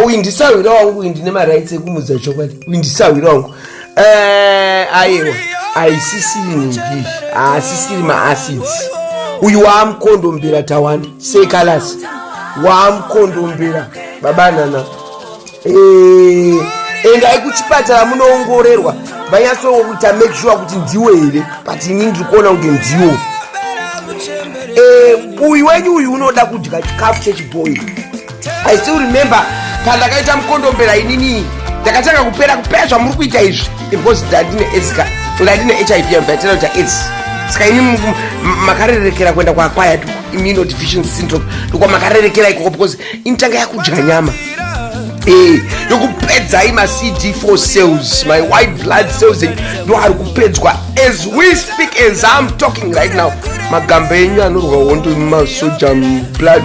uyu ndisahwira wangu uyu ndine marights ekumudza chokwadi uyu ndisahwira wangu eh, aiwa aisisiri nhingi haasisiri maacids uyu waamukondombera tawanda sekalasi waamukondombera babanana eh, endai kuchipatara munoongorerwa vanyatsowo kuita make sure kuti ndiwo here but ini ndiri kuona kunge ndiwo eh, uyu wenyu uyu unoda kudya chikafu chechibhoyi I still remember pandakaita mukondombera inini ndakatanga kupera kupera zvamuri kuita izvi because ndandine aids ka ndandine hiv yambatira kuti aids saka ini makarerekera kuenda kwaakwaya immuno deficiency syndrome ndokwa makarerekera ikoko because initanga yakudya nyama eh, yokupedzai macd for cells my white blood cells ndo ari kupedzwa as we speak as im talking right now magamba enyu anorwa hondo masoja blood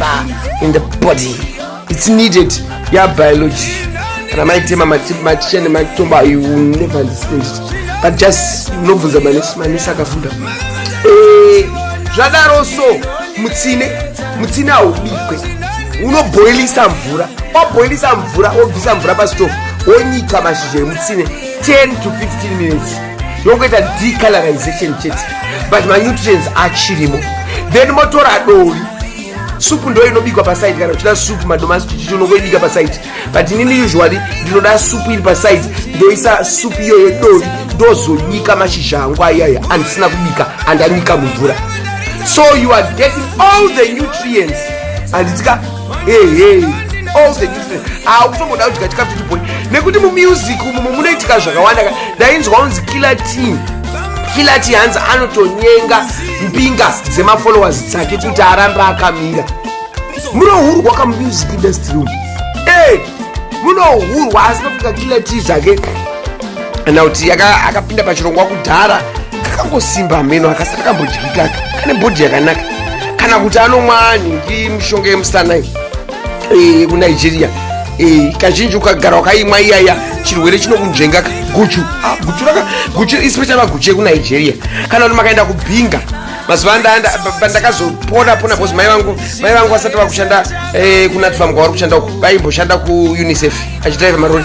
bar in the body it's needed ya biology kana maitema maticha nematomba you will never understand it but just unobvunza manesi manesi akafunda eh, zvadaro so mutsine mutsine haubikwe unoboilisa mvura waboilisa mvura wobvisa mvura pastove wonyika mashizha emutsine 10 to 15 minutes yongoita decolorization chete but manutrients achirimo then motora dori supu ndo inobikwa paside kana uchida supu madomasi chichichi unongoibika paside but inini usually ndinoda supu iri paside ndoisa supu iyo yedori ndozonyika mashizha angu ayaya andisina kubika andanyika mumvura so you are getting all the nutrients anditika akutomboda kudya chikafu chibhoi nekuti mumusic umu munoitika zvakawanda ka ndainzwa unzi killer team killer team hanzi anotonyenga mbinga dzemafollowers dzake kuti arambe akamira munohurwa kamusic industry umu eh, munohurwa asi nokuti kakiller team zvake kana kuti akapinda pachirongwa kudhara kakangosimba hameno akasati akambodyika aka kane bhodhi yakanaka kana kuti anomwani ndi mishonga yemusana iyi Eh, kunigeria Eh, kazhinji ukagara wakaimwa iyaya chirwere chinokunzvengaka guchu Ah, guchu raka guchu especially maguchu ekunigeria kana kuti makaenda kubhinga mazuva anda- anda- pa- pandakazopona pona bcause mai vangu mai vangu vasati vakushanda eh, kunatfamu kwavari kushanda uku vaimboshanda kuunicef achidrive marori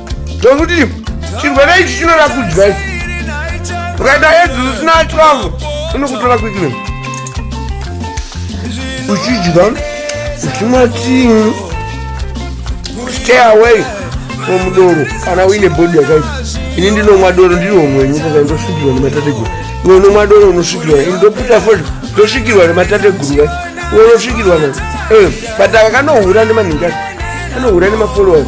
Ndokuti chirwere ichi chinoda kudya ichi. Ukaita edzi usina 12 unokutora quickly. Uchidya uchimwa tii. Stay away from doro kana uine body yakaita. Ini ndinomwa doro ndiri homwe nyika kana ndosvikirwa nematateguru. Iwe unomwa doro unosvikirwa. Ini ndoputa fodya ndosvikirwa nematateguru kai. Iwe unosvikirwa na. Eh, but aka kanohura nemanhinga. Kanohura nemafollowers.